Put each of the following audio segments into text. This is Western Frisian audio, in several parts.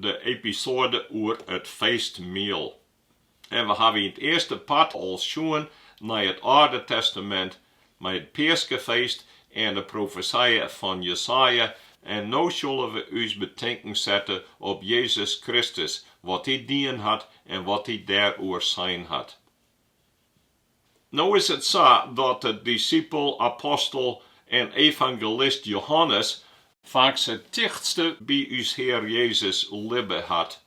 De episoade oer it feestmiel. En we hawwe yn it earste part al sjoen nei it Alde Testamint mei it peaskefeest en de profesije fan Jesaja en no sille we ús betinken sette op Jezus Kristus, wat Hy dien hat en wat Hy dêroer sein hat. No is it sa dat de disipel, apostel en evangelist Johannes faaks it tichtste by ús Hear Jezus libbe hat.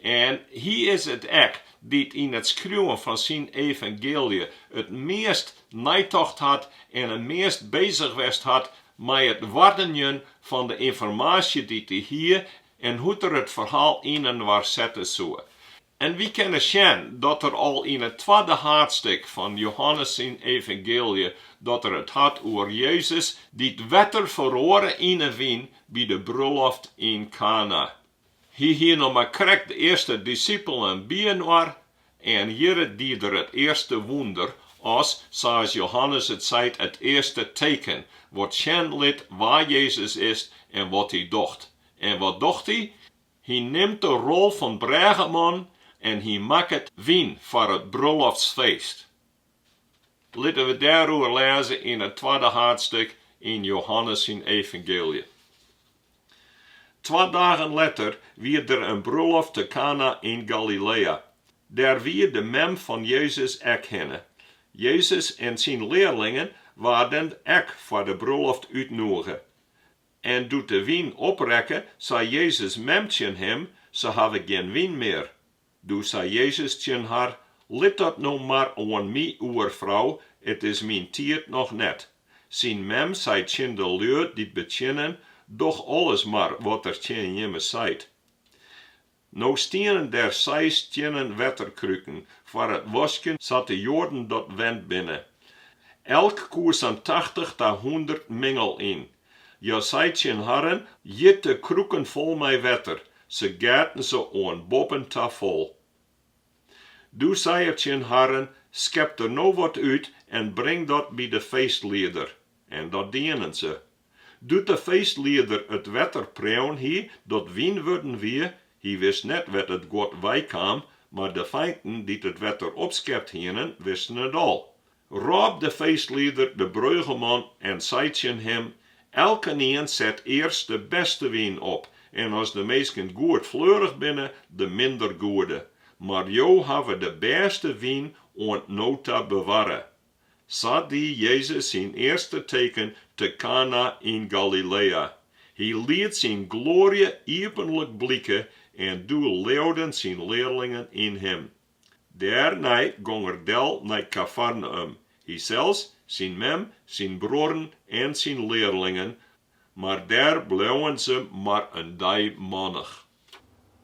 En hy is it ek dy't yn it skriuwen fan syn evangeelje it meast neitocht hat en it meast bezich west hat mei it oardenjen fan de ynformaasje dy't hy hie en hoe't er it ferhaal yninoar sette soe. En wy kinne sjen dat er al yn it twadde haadstik fan Johannes syn evangeelje, dat er it hat oer Jezus dy't wetter feroare yn 'e wyn by de brulloft yn Kana. Hy hie noch mar krekt de earste disipelen byinoar en hjirre die er it earste wûnder, as, sa's Johannes it seit, it earste teken, wat sjen lit wa Jezus is en wat hy docht. En wat docht hy? Hy nimt de rol fan brêgeman en hy makket wyn foar it brulloftsfeest. Litte we dêroer lêze yn it twadde haadstik yn Johannes syn Evangeelje. Twa dagen letter wie der in brulloft te Kana yn Galilea. Dêr wie de mem fan Jezus ek hinne. Jezus en syn learlingen waarden ek foar de brulloft útnûge. En doe't de wyn oprekke, sei Jezus' mem tsjin him, Se hawwe gjin wyn mear. Doe sei Jezus tsjin har, Lit dat no mar oan my oer, frou, it is myn tiid noch net. Syn mem sei tsjin de lju dy't betsjinnen, Doch alles mar wat er tsjin jimme seit. No stienen der seis stiennen wetterkruken foar it waskjen sa't de Joaden dat wend binne. Elk koe sa'n tachtich ta hûndert mingel yn. Jezus sei tsjin harren, Jit de kruken fol mei wetter. Se geaten se oan boppen ta fol. Doe sei er tsjin harren, Skep der no wat út en bring dat by de feestlieder. En dat dienen se. Doe't de feestlieder it wetter preaun hie dat wyn wurden wie, hy wist net wêr't it guod weikaam, mar de feinten dy't it wetter opskept hienen, wisten it al. Rôp de feestlieder de breugeman en sei tsjin him, Elkenien set earst de bêste wyn op, en as de minsken goed fleurich binne, de minder goede. Mar jo hawwe de bêste wyn oant no ta bewarre. Sa die Jezus syn earste teken te Kana yn Galilea. Hy liet syn gloarje iepenlik blike en doe leauden syn learlingen yn him. Dêrnei gong er del nei Kafarneüm, hysels, syn mem, syn bruorren en syn learlingen, mar dêr bleauen se mar in dei mannich.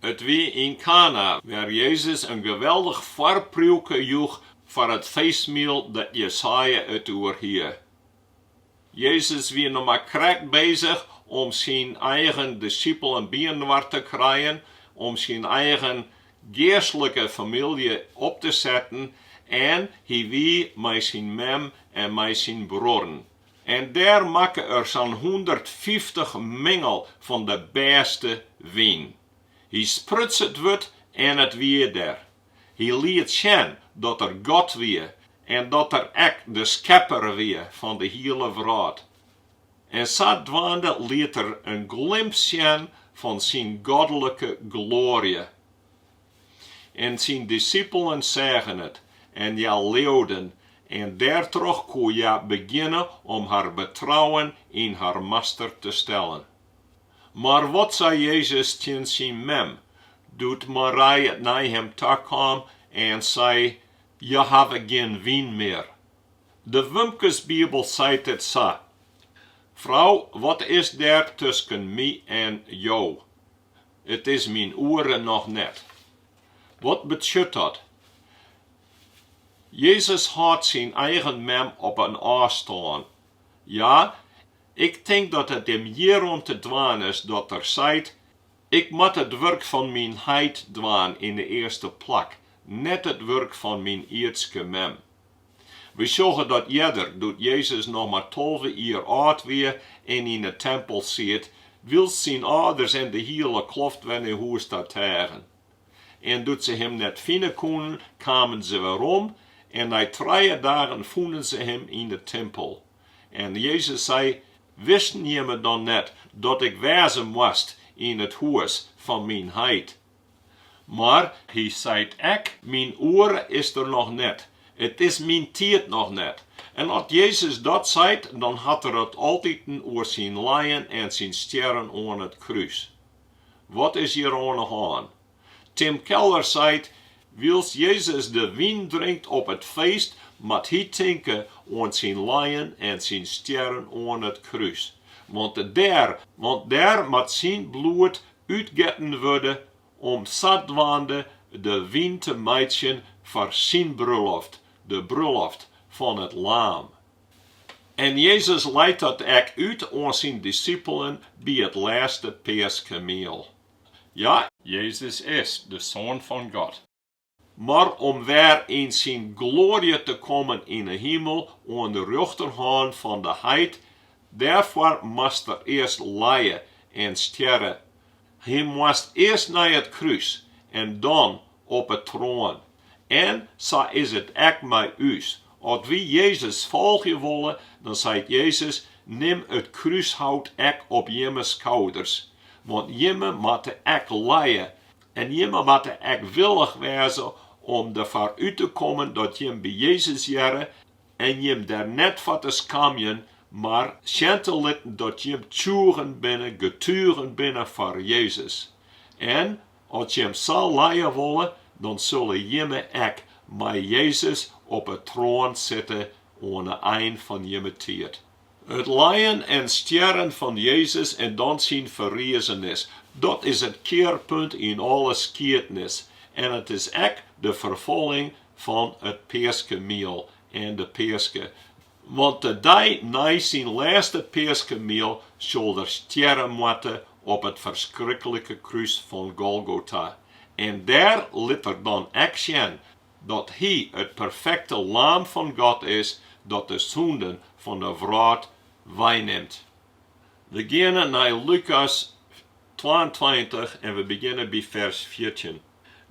It wie yn Kana, wêr Jezus in geweldich foarpriuke joech foar it feestmiel dêr't Jesaja it oer hie. Jezus wie noch mar krekt bezich om syn eigen disipelen byinoar te krijen, om syn eigen geastlike famylje op te setten en hy wie mei syn mem en mei syn bruorren. En dêr makke er sa'n hûndertfyftich mingel fan de bêste wyn. Hy spruts it wurd en it wie der. Hy liet sjen dat er God wie en dat er ek de skepper wie fan de hiele wrâld. En sadwaande liet er in glimp sjen fan syn godlike gloarje. En syn disippelen seagen it, en hja leauden, en dêrtroch koe hja begjinne om har betrouwen yn har Master te stellen. Mar wat sei Jezus tsjin syn mem, doe't Marij nei him ta kaam en sei, Hja hawwe gjin wyn mear? De Wumkesbibel seit it sa, Frou, wat is der tusken my en jo? It is myn oere noch net. Wat betsjut dat? Jezus hâldt syn eigen mem op in ôfstân. Ja, ik tink dat it him hjirom te dwaan is dat er seit, Ik moat it wurk fan myn Heit dwaan yn 'e earste plak, net it wurk fan myn ierdske mem. Wy sjogge dat earder, doe't Jezus noch mar tolve jier âld wie en yn 'e tempel siet, wylst syn âlders en de hiele kloft wer nei hûs ta teagen. En doe't se him net fine koenen, kamen se werom, en nei trije dagen fûnen se him yn 'e tempel. En Jezus sei, Wisten jimme dan net dat ik wêze moast yn it hûs fan myn Heit? Mar hy seit ek, Myn oere is der noch net, it is myn tiid noch net. En as Jezus dat seit, dan hat er it altiten oer syn lijen en syn stjerren oan it krús. Wat is hjir oan 'e hân? Tim Keller seit, Wylst Jezus de wyn drinkt op it feest, moat hy tinke oan syn lijen en syn stjerren oan it krús. Want dêr, want dêr moat syn bloed útgetten wurde om sadwaande de wyn te meitsjen foar syn bruloft, de bruloft fan it Laam. En Jezus leit dat ek út oan syn disippelen by it lêste Peaskemiel. Ja! Jezus is de Soan fan God. Mar om wer yn syn gloarje te kommen yn 'e himel oan de rjochterhân fan de Heit, dêrfoar moast er earst lije en stjerre. Hy moast earst nei it krús en dan op 'e troan. En sa is it ek mei ús. As wy Jezus folgje wolle, dan seit Jezus, Nim it krúshout ek op jimme skouders. Want jimme moatte ek lije En jimme moatte ek willich wêze om derfoar út te kommen dat jim by Jezus hearre en jim dêr net foar te skamjen, mar sjen te litten dat jim tsjûgen binne, getugen binne foar Jezus. En as jim sa lije wolle, dan sulle jimme ek mei Jezus op 'e troan sitte oan 'e ein fan jimme tiid. It lijen en stjerren fan Jezus en dan syn ferrizenis, dat is it kearpunt yn alle skiednis en it is ek de ferfolling fan it peaskemiel en de peaske. Want de dei nei syn lêste peaskemiel sil er stjerre moatte op it ferskriklike krús fan Golgota en dêr lit er dan ek sjen dat Hy it perfekte Laam fan God is dat de sûnden fan de wrâld weinimt. We geane nei Lukas twaentweintich en we begjinne by fers fjirtjin.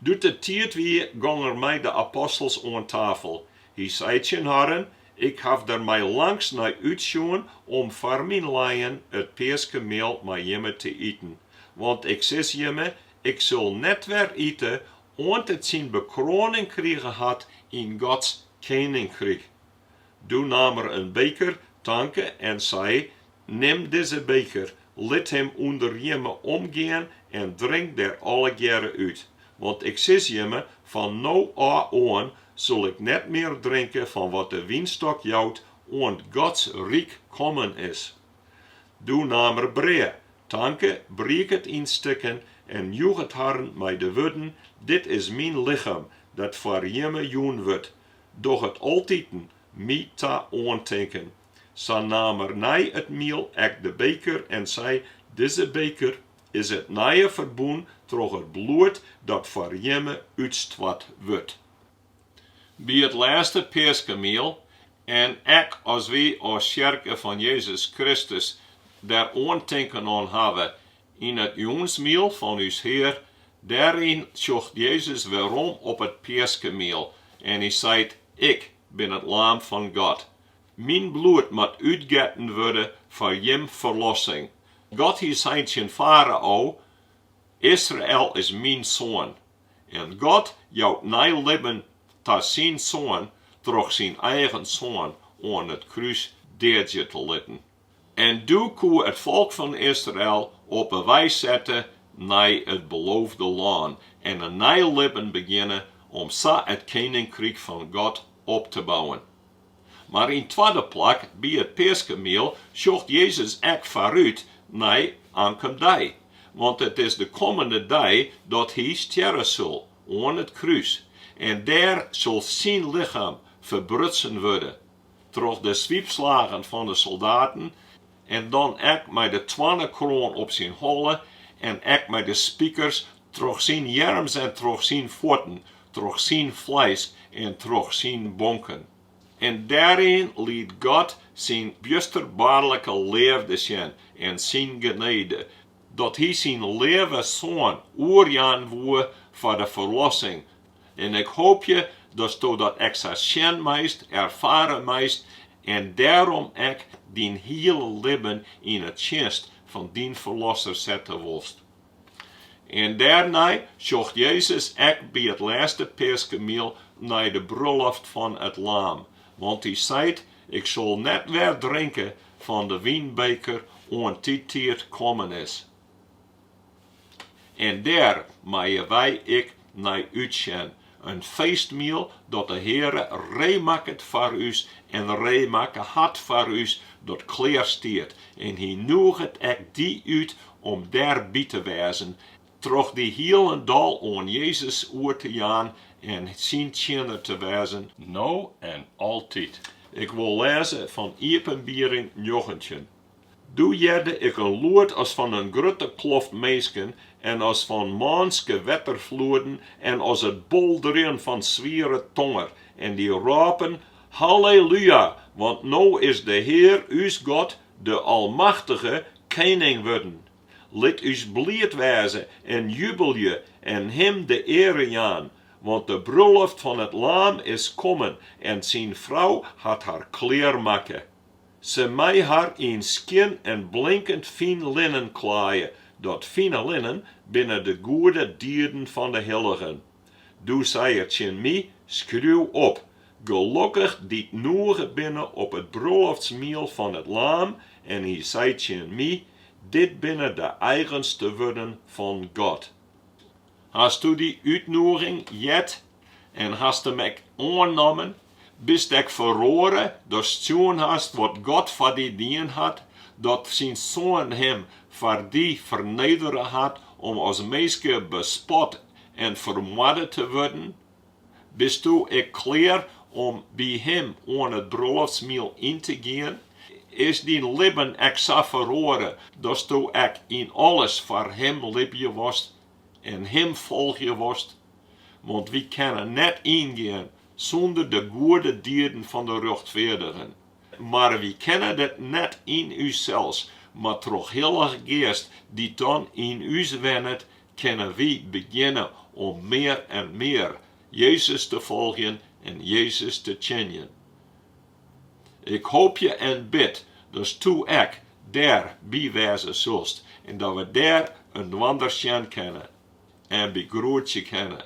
Doe't it tiid wie, gong Er mei de apostels oan tafel. Hy sei tsjin harren, Ik haw der mei langs nei útsjoen om foar myn lijen it peaskemiel mei jimme te iten. Want Ik sis jimme, Ik sil net wer ite oant it syn bekroaning krige hat yn Gods keninkryk. Doe naam er in beker, tanke en sei, Nim dizze beker, lit him ûnder jimme omgean en drink der allegearre út. Want ik sis jimme, fan no ôf oan sil ik net mear drinke fan wat de wynstok jout, oant Gods ryk kommen is. Doe naam er brea, tanke, briek it yn stikken en joech it harren mei de wurden, Dit is myn lichem, dat foar jimme jûn wurdt, doch it altiten my ta oantinken. Sa naam er nei it miel ek de beker en sei, Dizze beker is it nije ferbûn troch it bloed dat foar jimme útstoart wurdt. By it lêste peaskemiel en ek as wy as Tsjerke fan Jezus Kristus der oantinken oan hawwe yn it jûnsmiel fan ús Hear, dêryn tsjocht Jezus werom op it peaskemiel en Hy seit, Ik bin it Laam fan God. Myn bloed moat útgetten wurde foar jim ferlossing. God hie sein tsjin Farao, Israel is myn soan. En God jout nij libben oan syn Soan troch syn eigen Soan oan it krús deadzje te litten. En doe koe it folk fan Israel op 'e wei sette nei it Beloofde Lân en in nij libben begjinne om sa it keninkryk fan God op te bouwen. Mar yn 't twadde plak, by it peaskemiel sjocht Jezus ek foarút nei oankommen dei, want it is de kommende dei dat hy stjerre sil oan it krús en dêr sil syn lichem ferbrutsen wurde troch de swypslagen fan de soldaten en dan ek mei de toarnekroan op syn holle en ek mei de spikers troch syn earms en troch syn fuotten, troch syn fleis en troch syn bonken. En dêryn liet God syn bjusterbaarlike leafde sjen en syn genede, dat hy syn leave Soan oerjaan woe foar de ferlossing En ik hoopje datsto dat ek sa sjen meist, erfare meist en dêrom ek dyn hiele libben yn 'e tsjinst fan dyn Ferlosser sette wolst. En dêrnei sjocht Jezus ek by it lêste peaskemiel nei de bruloft fan it Laam, want Hy seit, Ik sil net wer drinke fan de wynbeker oant dy tiid kommen is. En dêr meie wy ek nei útsjen, in feestmiel dat de Heare reemakket foar ús en reemakke hat foar ús, dat klear stiet. En Hy nûget ek dy út om dêr by te wêzen, troch dy hielendal oan Jezus oer te jaan en Syn tsjinner te wêzen, no en altyd. Ik wol lêze fan Iepenbiering njoggentjin, Doe hearde ik in lûd as fan in grutte kloft minsken en as fan mânske wetterfloeden en as it bolderjen fan swiere tonger, en dy rôpen, Hallelúja, want no is de Hear ús God, de Almachtige, kening wurden. Lit ús bliid wêze en jubelje en Him de eare jaan, want de bruloft fan it Laam is kommen en syn frou hat har klear makke. Se mei har yn skjin en blinkend fyn linnen klaaie, dat fine linnen binne de goede dieden fan de hilligen. Doe sei er tsjin my, Skriuw op, Gelokkich dy't nûge binne op it brûloftsmiel fan it Laam, en hy sei tsjin my, Dit binne de eigenste wurden fan God. Hast do dy útnoeging heard en hast him ek oannommen? Bist ek feroare datst sjoen hast wat God foar dy dien hat, dat syn Soan him foar dy fernedere hat om as minske bespot en fermoarde te wurden? Bisto ek klear om by him oan it brûloftsmiel yn te gean? Is dyn libben ek sa feroare datsto ek yn alles foar him libje wolst en him folgje wolst? Want wy kinne net yngean sûnder de goede dieden fan de rjochtfeardigen, mar wy kinne dit net yn ússels, mar troch Hillige Geast dy't dan yn ús wennet kinne wy begjinne om mear en mear Jezus te folgjen en Jezus te tsjinjen. Ik hoopje en bid datsto ek dêr by wêze soest en dat we dêr inoar sjen kinne en begroetsje kinne.